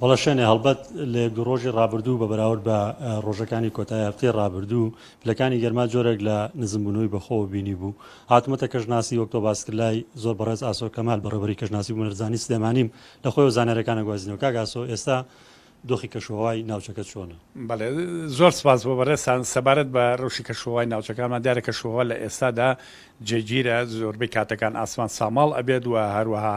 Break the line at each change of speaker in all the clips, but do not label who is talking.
وەڵا شێنێ هەڵبەت لە یەک دوو ڕۆژی ڕابردوو بە بەراورد بە ڕۆژەکانی کۆتای هەفتەی ڕابردوو پلەکانی گەرما جۆرێک لە نزمبوونەوەی بەخۆ بینی بوو هاتمەتە کەژناسی وەکتۆ باسکرلای زۆر بەڕێز ئاسۆ کەمال بەڕێبەری کەژناسی بوونەرزانی سلێمانیم لە خۆی و زانارەکانە گوازینەوە کاک ئاسۆ ئێستا دۆخی کەشوهەوای ناوچەکە چۆنە؟ بەڵێ
زۆر سپاس بۆ بەڕێزتان سەبارەت بە ڕەوشی کەشوهەوای ناوچەکانمان دیارە کەشوهەوا لە ئێستادا جێگیرە، زۆربەی کاتەکان ئاسمان ساماڵ ئەبێت و هەروەها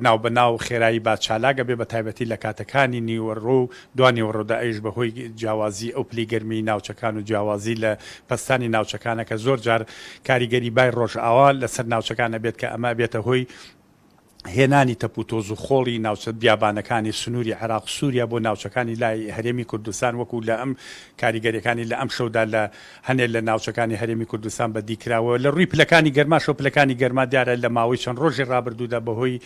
ناو بە ناو خێرایی با چالاک ئەبێت بە تایبەتی لە کاتەکانی نیوەڕۆ و دوانیوەڕۆدا ئەویش بە هۆی جیاوازی ئەو پلی گەرمیی ناوچەکان و جیاوازی لە پەستانی ناوچەکانە کە زۆر جار کاریگەری بای ڕۆژئاوا لە سەر ناوچەکان ئەبێت کە ئەمە ئەبێتە هۆی هێنانی تەپ و تۆز و خۆڵی ناوچە بیابانەکانی سنووری عێراق و سووریا بۆ ناوچەکانی لای هەرێمی کوردستان وەکوو لە ئەم کاریگەریەکانی لە ئەمشەودا لە هەنێ لە ناوچەکانی هەرێمی کوردستان بە دی کراوە لە ڕووی پلەکانی گەرماشەوە پلەکانی گەرما دیارە لە ماوەی چەند ڕۆژی ڕابردوودا بە هۆی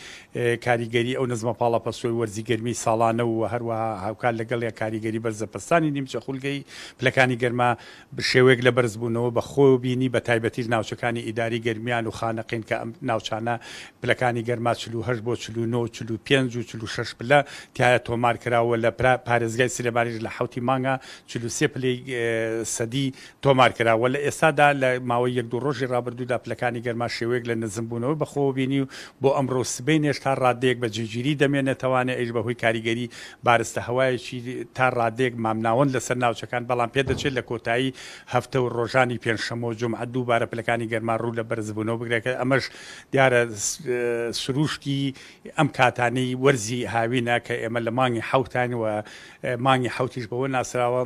کاریگەری ئەو نزمە پاڵەپەستۆی وەرزی گەرمی ساڵانە و هەروەها هاوکات لەگەڵ یا کاریگەری بەرزە پەستانی نیمچە خولگەی پلەکانی گەرما بشێوەیەک لە بەرزبوونەوە بە خۆ بینی بە تایبەتیش ناوچەکانی ئیداری گەرمیان و خانەقین کە ئەم ناوچانە پلەکانی گەرما چل و هەشت بۆ چل و نۆ و چل و پێنج و چل و شەش پلە تیایا تۆمار کرا و لە پارێزگای سلێمانیش لە حەوتی مانگا چل و سێ پلەی سەدی تۆمار کرا و لە ئێستادا لە ماوەی یەک دوو ڕۆژی ڕابردوودا پلەکانی گەرما شێوەیەک لە نزمبوونەوە بە خۆ بینی و بۆ ئەمڕۆ و سبەینێش تا ڕاددەیەک بە جێگیری دەمێنێتەوانێ ئەیش بە هۆی کاریگەری بارستە هەوایەکی تا ڕادەیەک مامناوەند لەسەر ناوچەکان، بەڵام پێدەچێت لە کۆتایی هەفتە و ڕۆژانی پێنجشەممە و جومعە دووبارە پلەکانی گەرما ڕوو لە بەرزبوونەوە بگرێت کە ئەمەش دیارە سرووشتی ئەم کاتانەی وەرزی هاوینە کە ئێمە لە مانگی حەوتاین و مانگی حەوتیش بەوە ناسراوە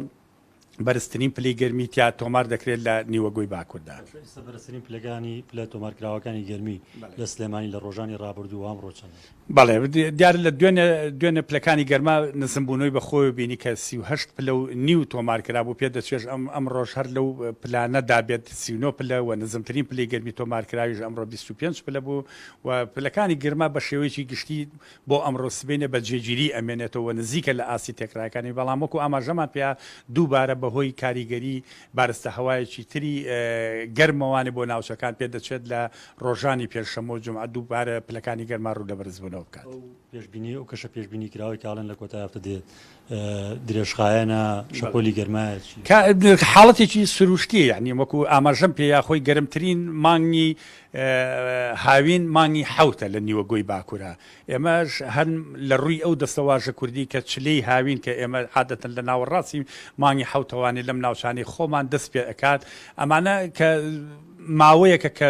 بەرزترین پلەی گەرمی تیا تۆمار دەکرێت لە نیوەگۆی باکوردا. ئێستا بەرزترین پلەکانی
پلە تۆمارکراوەکانی گەرمی لە سلێمانی لە ڕۆژانی ڕابردوو و ئەمڕۆ چەندە؟ بەڵێ
دیارە لە دوێنێ دوێنێ پلەکانی گەرما نزمبوونەوەی بە خۆوە بینی کە سی و هەشت پلە و نیو تۆمار کرابوو پێدەچێژ ئەم ئەمڕۆژ هەر لەو پلانە دابێت سی و نۆ پلە و نزمترین پلەی گەرمی تۆمارکراویش ئەمڕۆ بیست و پێنج پلە بوو و پلەکانی گەرما بە شێوەیەکی گشتی بۆ ئەمڕۆ سبەینێ بە جێگیری ئەمێنێتەوە و نزیکە لە ئاستی تێکرایەکانی، بەڵام وەکو ئاماژەمان پێیا دووبارە بەهۆی کاریگەری بارستە هەوایەکی تری گەرمەوانی بۆ ناوچەکان پێدەچێت لە ڕۆژانی پێنجشەممە و جومعە دووبارە پلەکانی گەرما ڕوو لە بەرزبوونەوە بکات. ئەو پێشبینیەی ئەو کەشە
پێشبینی کراوەی کە ئەڵێن لە کۆتای هەفتە دێت درێژخایەنە شەپۆلی گەرمایە چی؟ کە حاڵەتێکی
سروشتی یعنی وەکو ئاماژەم پێ یا خۆی گەرمترین مانگی هاوین مانگی حەوتە لە نیوە گۆی باکورە ئێمەش هەن لە ڕووی ئەو دەستەواژە کوردی کە چلەی هاوین کە ئێمە عادەتەن لە ناوەڕاستی مانگی حەوتەوانی لەم ناوچانەی خۆمان دەست پێ ئەکات ئەمانە کە ماوەیەکە کە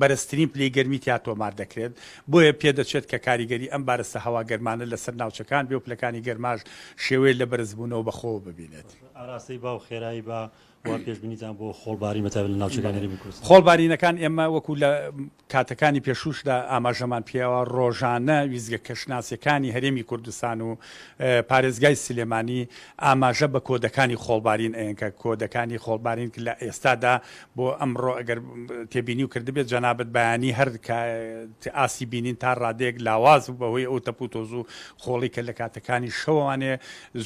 بەرزترین پلەی گەرمی تیا تۆمار دەکرێت، بۆیە پێدەچێت کە کاریگەری ئەم بارستە هەوا گەرمانە لەسەر ناوچەکان بێ و پلەکانی گەرماش شێوەیە لە بەرزبوونەوە بەخۆوە ببینێت. ئاراستەی با و
خێرایی با، وا پێشبینیتان بۆ خۆڵبارین بە تایبەت لە ناوچەکانی هەرێمی کوردستان؟ خۆڵبارینەکان ئێمە
وەکو لە کاتەکانی پێشووشدا ئاماژەمان پێیەوە، ڕۆژانە ویستگە کەشناسییەکانی هەرێمی کوردستان و پارێزگای سلێمانی ئاماژە بە کۆدەکانی خۆڵبارین ئەیەن کە کۆدەکانی خۆڵبارین لە ئێستادا بۆ ئەمڕۆ ئەگەر تێبینی و کردبێت جەنابت بەیانی هەر ئاستی بینین تا ڕادەیەک لاواز بوو بەهۆی ئەو تەپ و تۆز و خۆڵی کە لە کاتەکانی شەوانێ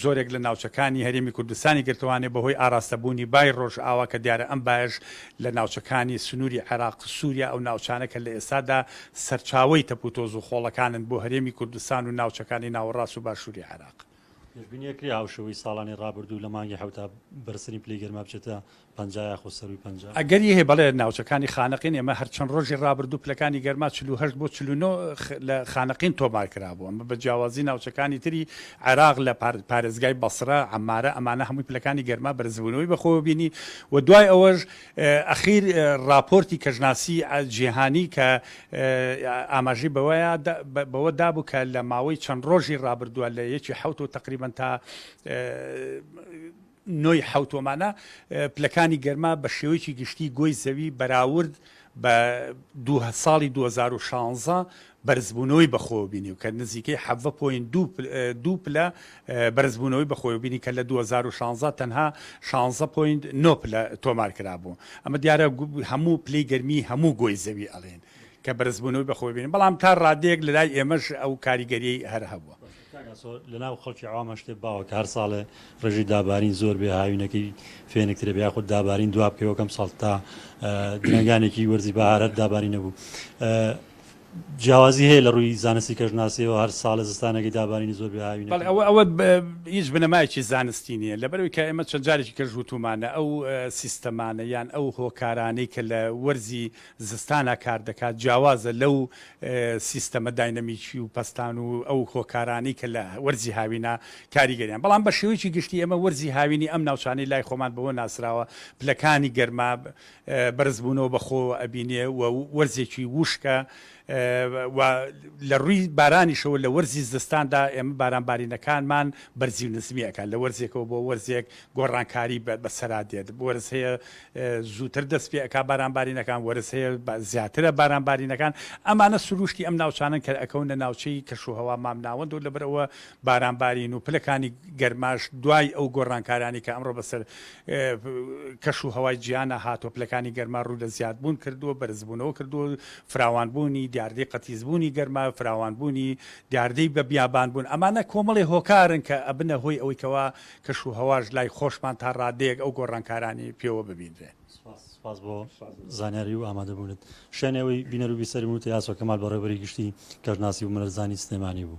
زۆرێک لە ناوچەکانی هەرێمی کوردستانی گرتوانێ بەهۆی ئاراستەبوونی بای ڕۆژ ئاوا کە دیارە ئەم بایش لە ناوچەکانی سنووری عێراق سووریا ئەو ناوچانە کە لە ئێستادا سەرچاوەی تەپ و تۆز و خۆڵەکانن بۆ هەرێمی کوردستان و ناوچەکانی ناوەڕاست و باشووری عێراق. پێشبینیەکرێ
هاوشێوەی ساڵانی رابردوو لە مانگی حەوتا بەرزترین پلەی گەرما بچێتە پەنجا یاخود سەرووی پەنجا؟ ئەگەری هەیە، بەڵێ،
ناوچەکانی خانەقین ئێمە هەر چەند رۆژی رابردوو پلەکانی گەرما چل و هەشت بۆ چل و نۆ لە خانەقین تۆمارکرابوو، ئەمە بە جیاوازی ناوچەکانی تری عێراق لە پارێزگای بەسرە، عەمارە، ئەمانە هەمووی پلەکانی گەرما بەرزبوونەوەی بەخۆوە بینی و دوای ئەوەش ئەخیر ڕاپۆرتی کەشناسی جیهانی کە ئاماژەی بەوە دابوو کە لە ماوەی چەند ڕۆژی ڕابردووە لە یەکی حەوتەوە تەقریبەن تا نۆی حەوتومانە پلەکانی گەرما بە شێوەیەکی گشتی گۆی زەوی بەراورد بە ساڵی 2016 بەرزبوونەوەی بەخۆوەبینی و کە نزیکەی حەڤە پۆینت دوو دوو پلە بەرزبوونەوەی بەخۆوەبینی کە لە دوو هەزار و شانزە تەنها شانزە پۆینت نۆ پلە تۆمار کرابوو ئەمە دیارە هەموو پلەی گەرمی هەموو گۆی زەوی ئەڵێن کە بەرزبوونەوەی بەخۆوەبینی بەڵام تا ڕادەیەک لەلای ئێمەش ئەو کاریگەریی هەر هەبووە. کاک ئاسۆ لەناو
خەڵکی عەوامە شتێ باوە کە هەر ساڵێ ڕێژەی دابارین زۆر بێ هاوینەکەی فێنکترە بێ یاخود دابارین دوا بکەوە کەم ساڵ تا درەنگانێکی وەرزی بەهارەت داباری نەبوو جیاوازی هەیە لە ڕووی زانستی کەژناسیەوە هەر ساڵە زستانەکەی دابارینی زۆر بهاوی بەڵێ ئەوە ئەوە
هیچ بنەمایکی زانستی نییە لەبەرەوەی کە ئێمە چەند جارێکی کەژ وتومانە ئەو سیستەمانە یان ئەو هۆکارانەی کە لە وەرزی زستانە کار دەکات، جیاوازە لەو سیستەمە داینەمیکی و پەستان و ئەو هۆکارانەی کە لە وەرزی هاوینە کاریگەریان بەڵام بە شێوەیەکی گشتی ئێمە وەرزی هاوینی ئەم ناوچانەی لای خۆمان بەوە ناسراوە پلەکانی گەرما بەرزبوونەوە بەخۆوە ئەبینێ و وەرزێکی ووشکە و لە ڕووی بارانیشەوە لە وەرزی زستاندا ئێمە بارانبارینەکانمان بەرزی و نزمی ئەکات لە وەرزێکەوە بۆ وەرزێک گۆڕانکاری بەسەرا دێت وەرز هەیە زووتر دەست پێ ئەک بارانبارینەکان وەرز هەیە زیاترە بارانبارینەکان ئەمانە سروشتی ئەم ناوچانن کە ئەکەونە ناوچەی کەشوهوا مامناوەند و لەبەرەوە بارانبارین و پلەکانی گەرماش دوای ئەو گۆڕانکارانی کە ئەمڕۆ بەسەر کەش و هەوای جیانە هاتۆپلەکانی گەرما ڕوو لە زیادبوون کردووە بەرزبوونەوە کردووە فراوانبوونی دیاردەی قەتیسبوونی گەرما، فراوانبوونی دیاردەی بە بیابانبوون، ئەمانە کۆمەڵی هۆکارن کە ئەبنە هۆی ئەوەی کەوا کەش و هەواش لای خۆشمان تا ڕادەیەک ئەو گۆڕانکارانەی پێوە ببینرێن. سپاس سپاس بۆ
زانیاری و ئامادە بوونت. شایەنی ئەوەی بینەر و بیسەری من و تەیاسۆ کەمال بەڕێوەبەری گشتی کەشناسی و مەلەرزانی سلێمانی بوو.